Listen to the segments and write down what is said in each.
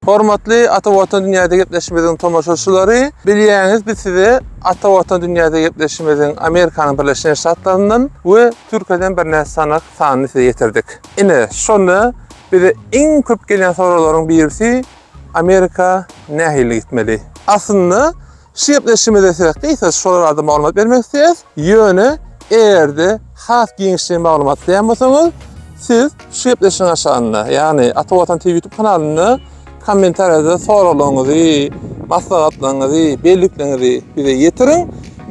Hormatly Ata Watan dünýäde gepleşimiziň tomaşaçylary, bilýäňiz biz size Ata Watan dünýäde gepleşimiziň Amerikanyň Birleşen Ştatlaryndan we Türkiýeden birnäçe sanak sanyny size getirdik. Ine, şonda bize iň köp gelýän soraglaryň birisi Amerika nähili gitmeli? Aslynda Şu gepleşigimize sebäp diýseňiz, şolar barada maglumat bermek isleýäs. Ýöne eger-de has giňişleýin maglumat isleýän bolsaňyz, siz şu gepleşigiň aşagynda, ýagny Ata Watan TV YouTube kanalynda kommentariýada soraglaryňyzy, maslahatlaryňyzy, bellikleňizi bize ýetiriň.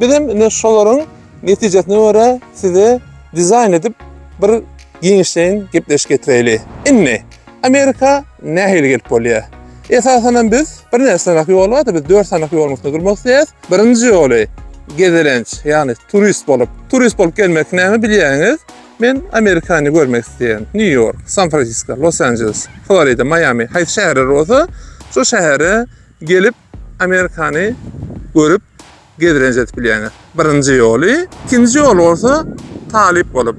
Biz hem indi şolaryň Netijesine görä size dizaýn edip bir giňişleýin gepleşik getireýli. Indi Amerika nähili gelip bolýar? Esasan hem biz bir näçe sanak ýol bar-da biz 4 sanak ýoluň üstüne durmak isleýäs. Birinji ýoly gezelenç, ýagny turist bolup. Turist bolup gelmek näme bilýäňiz? Men Amerikany görmek isleýän. Nýu Ýork, San Fransisko, Los Anjeles, Florida, Maýami, haýsy şäherler bolsa şo şähere gelip Amerikany görüp gedrenç edip bilýäňiz. Birinji ýoly, ikinji ýoly bolsa talyp bolup.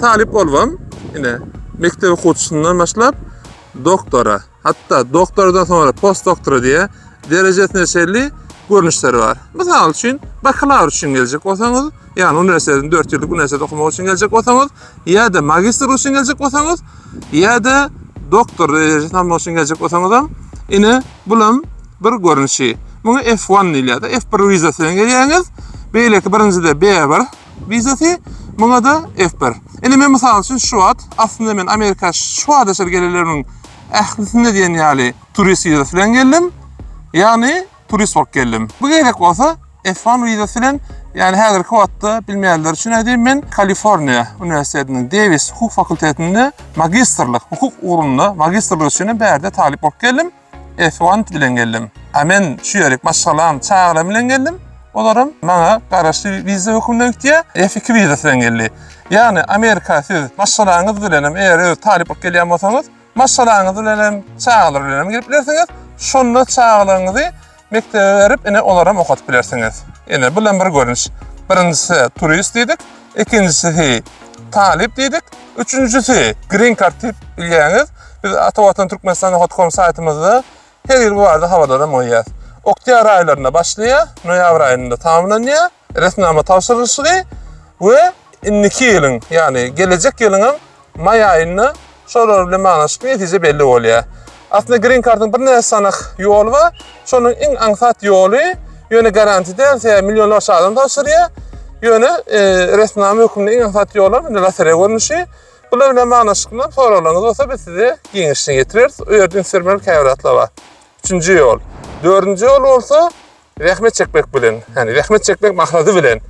Talyp bolubam ine mekdep okuwçysyndan başlap doktora, hatda doktordan soňra postdoktora diýe derejesine çenli görnüşleri bar. Mysal üçin, bakalawr üçin geljek bolsaňyz, ýagny uniwersitetiň dört ýyllyk uniwersitet okamagy üçin geljek bolsaňyz, ýa-da magistr üçin geljek bolsaňyz, ýa-da doktor derejesini almak üçin geljek bolsaňyzam, ine Bulam bir görnüşi. Muňa F one diýilýär-de, F bir wizasy bilen gelýäňiz. Beýleki birinjide B bir wizasy, muňa-da F bir. Indi men mysal üçin şu wagt, aslynda men Amerika şu wagta çenli gelenlerimiň ählisinde diýen ýaly turist wizasy bilen geldim. Ýagny turist bolup geldim. Bu gezek bolsa F-1 wizasy bilen, ýagny häzirki wagtda bilmeýänler üçin aýdaýyn men, Kaliforniýa uniwersitetiniň Dewis hukuk fakultetinde magistrlyk, hukuk ugrunda magistrlyk üçinem bärde talyp bolup geldim. F-1 bilen geldim. A men şu ýerik maşgalam, çagalarym bilen geldim. Olaram maňa garaşly wiza hökmünde gitýär. F-2 wizasy bilen geldi. Ýagny Amerika siz maşgalaňyz bilenem eger öz talyp bolup gelýän bolsaňyz, Maşgalaňyz bilenem, çagalar bilenem gelip bilersiňiz. Şonda çagalaryňyzy mekdebe berip, ine, olaram okadyp bilersiňiz. Ine, bulam bir görnüş. Birinjisi turist diýdik, ikinjisi talyp diýdik, üçünjisi green card diýip bilýäňiz. Biz Atawatan Türkmenistan hotcom saýtymyzda her ýyl bu barada habarlaram goýýas. Oktýabr aýlarynda başlaýar, noýabr aýynda tamamlanýar. resminama tabşyrylyşygy we indiki ýylyň, ýagny gelejek ýylyňam maý aýynda şolar bilen baglanyşykly netije belli bolýar. Aslynda Green Card-yň birnäçe sanak ýoly bar. Şonuň iň aňsat ýoly, ýöne garanti däl, sebäbi millionlarça adam tabşyrýar. Ýöne resminama hökmünde iň aňsat ýolam indi lotereýa görnüşi. Bular bilen baglanyşykly soraglaryňyz bolsa biz size giňişleýin ýetireris. Bu ýerde üns bermeli käbir zatlar bar. Üçünji ýol. Dördünji ýol bolsa zähmet çekmek bilen, ýagny zähmet çekmek maksady bilen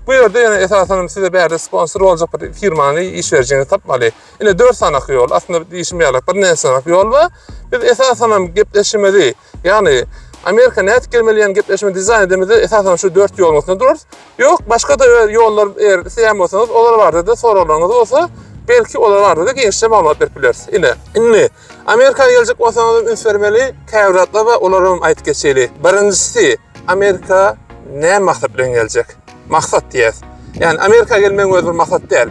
bu ýerde ýöne esasan size bärde sponsor boljak bir firmany iş berijiňizi tapmaly. Ine dört sanaky ýol, aslynda diýişim ýaly bir näçe sanak ýol we biz esasan hem gepleşimizi, ýagny Amerika nädip gelmeli ýan gepleşimi dizaýn edemizde esasan şu dört ýoluň üstünde durarys. Ýok, başga da ýollar eger isleýän bolsaňyz, olar barada da soraglaryňyz bolsa, belki olar barada da giňişje maglumat berip bileris. Ine, indi Amerika geljek bolsaňyzam üns bermeli, käbir zatlar bar, olaram aýdyp geçeli. Birinjisi, Amerika näme maksat bilen geljek? Maksat diýýäs. Ýani Amerika gelmegiň özi bir maksat däl.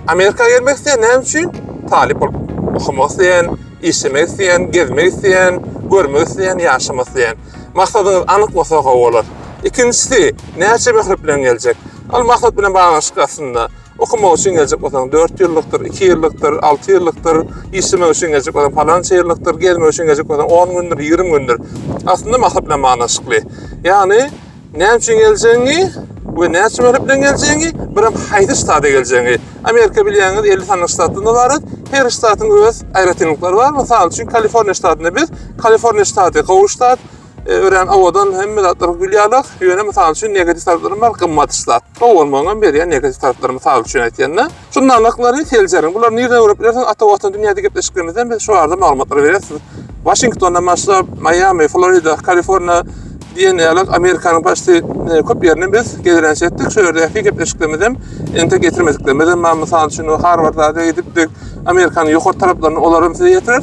Amerika gelmek isleýän näme üçin? Talyp bolup okamak isleýän, işlemek isleýän, gezmek isleýän, görmek isleýän, ýaşamak isleýän. Maksadyňyz anyk bolsa gowy bolar. Ikinjisi, näçe möhlet bilen geljek? Ol maksat bilen baglanyşykly aslynda. Okamak üçin geljek bolsaň, dört ýyllykdyr, iki ýyllykdyr, alty ýyllykdyr, işlemek üçin geljek bolsaň, palança ýyllykdyr, gezmek üçin geljek bolsaň, on gündür, ýigrimi gündür. Aslynda maksat bilen baglanşykly. Ýagny, näme üçin geljegiňi we näçe möhlet bilen geljegiňi, birem haýsy ştada geljegiňi. Amerika bilýäňiz, elli sanaly ştatdan ybarat. Her ştatyň öz aýratynlyklary bar. Mysal üçin, Kaliforniýa ştatynda biz, Kaliforniýa ştaty gowy ştat, E, örän awadan hemme zatlar gülýärler. Ýöne mysal üçin negativ taraplarym bar, gymmat zat. Gowy bolmagyň hem berýän negativ taraplary mysal üçin aýtýanda. Şu nalaklary seljeriň. Bular nireden görüp bilersiň? Ata watan dünýäde gepleşiklerimizden biz şu barada maglumatlary berýäs. Waşingtondan başlap, Miami, Florida, Kaliforniýa diýen ýaly Amerikanyň başda e, köp ýerinden biz gezelenç etdik. Şu ýerdäki gepleşiklerimiz hem ente getirmediklerimiz hem bar. Mysal üçin Harvarda gidipdik. Amerikanyň ýokary taraplaryny olar hem size ýetirer.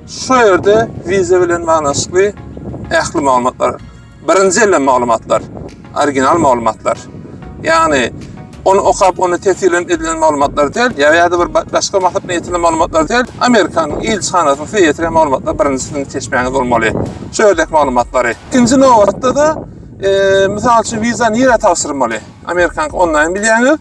Şu ýerde wiza bilen baglanyşykly ähli maglumatlar, birinji elden maglumatlar, original maglumatlar, ýagny ony okap, ony tesirlenip edilen maglumatlar däl, ýa-da bir başga maksatly ýetilen maglumatlar däl, Amerikanyň ilçihanasynyň size ýetiren maglumatlar birinji siziň çeşmäňiz bolmaly, şu ýerdäki maglumatlary. Ikinji nobatda-da, mysal üçin, wiza nirä tabşyrmaly? Amerikanyňky onlaýn bilýäňiz.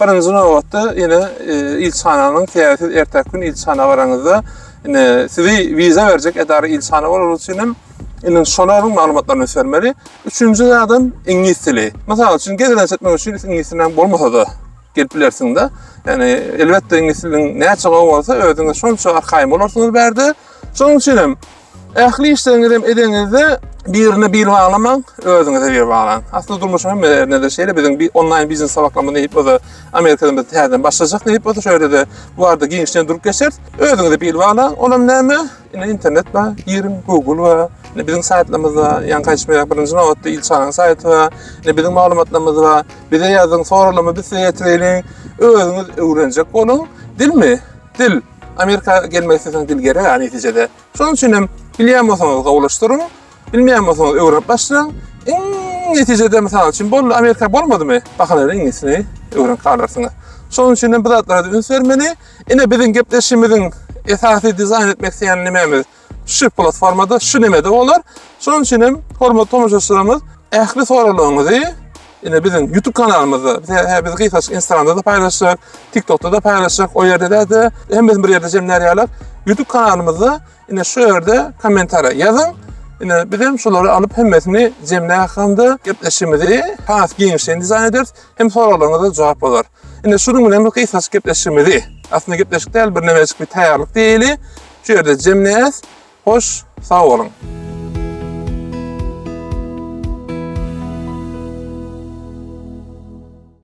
Birinji nobatda ine ilçhananyň sebäbi siz erteki gün ilçhana baranyňyzda ine sizi wiza berjek edara ilçhana bolary üçin hem ine şolaryň maglumatlaryny üsürmeli. Üçünji zadam iňlis dili. Mysal üçin gezelenç etmek üçin iňlis diliniň bolmasa-da gelip bilersiňde. Ýani elbetde iňlis diliniň näçe gowy bolsa özüňiz şonça arkaýyn bolarsyňyz bärde. Şonuň üçin hem Ähli işleriňizem edeňizde birine bil baglamaň, özüňize bil baglaň. Asly durmuşyň hemme ýerinde şeýle biziň bir onlaýn biznes sabaklama diýip oza Amerikada biz täzeden başlajak diýip oza şeýle de bu barada giňişleýin durup geçeris. Özüňize bil baglaň. Olam näme? Ine internet bar, giriň, Google bar. Ine biziň saýtlarymyz bar. Ýa gaýtmaýar birinji nobatda ilçaranyň saýty bar. Ine biziň maglumatlarymyz bar. Bize ýazyň, soralama biz size ýetireýin. Özüňiz öwrenjek boluň. Dilmi? Dil. Amerika gelmek isteseňiz dil gerek ha netijede. Şonuň üçin hem bilýän bolsaňyz gowulaşdyryň, bilmeýän bolsaňyz öwrenip başlaň. Iň netijede mysal üçin boldy Amerika bolmadymy? Bakalary iňlisini öwrenip galarsyňyz. Şonuň üçin hem bu zatlara üns bermeli. Ine biziň gepleşigimiziň esasy dizaýn etmek isleýän nimämiz? şu platformada, şu nemede bolar. Şonuň üçin hem hormatly tomaşaçylarymyz, ähli soraglaryňyzy ine biziň YouTube kanalymyzda, hä biz gysgaçyk Instagramda da paýlaşjak, TikTokda da paýlaşjak, o ýerde-de hemmesini bir ýerde jemlär ýaly YouTube kanalymyzda ine şu ýerde kommentariýa ýazyň. Ine biz hem şolary alyp hemmesini jemlär hamda gepleşigimizi has giňişleýin dizaýn ederis, hem soraglaryňyza jogap bolar. Indi şunuň bilen bu gysgaçyk gepleşigimizi, aslynda gepleşik däl, bir nämejik bir taýýarlyk diýeli, şu ýerde jemleýäs. Hoş, sag boluň!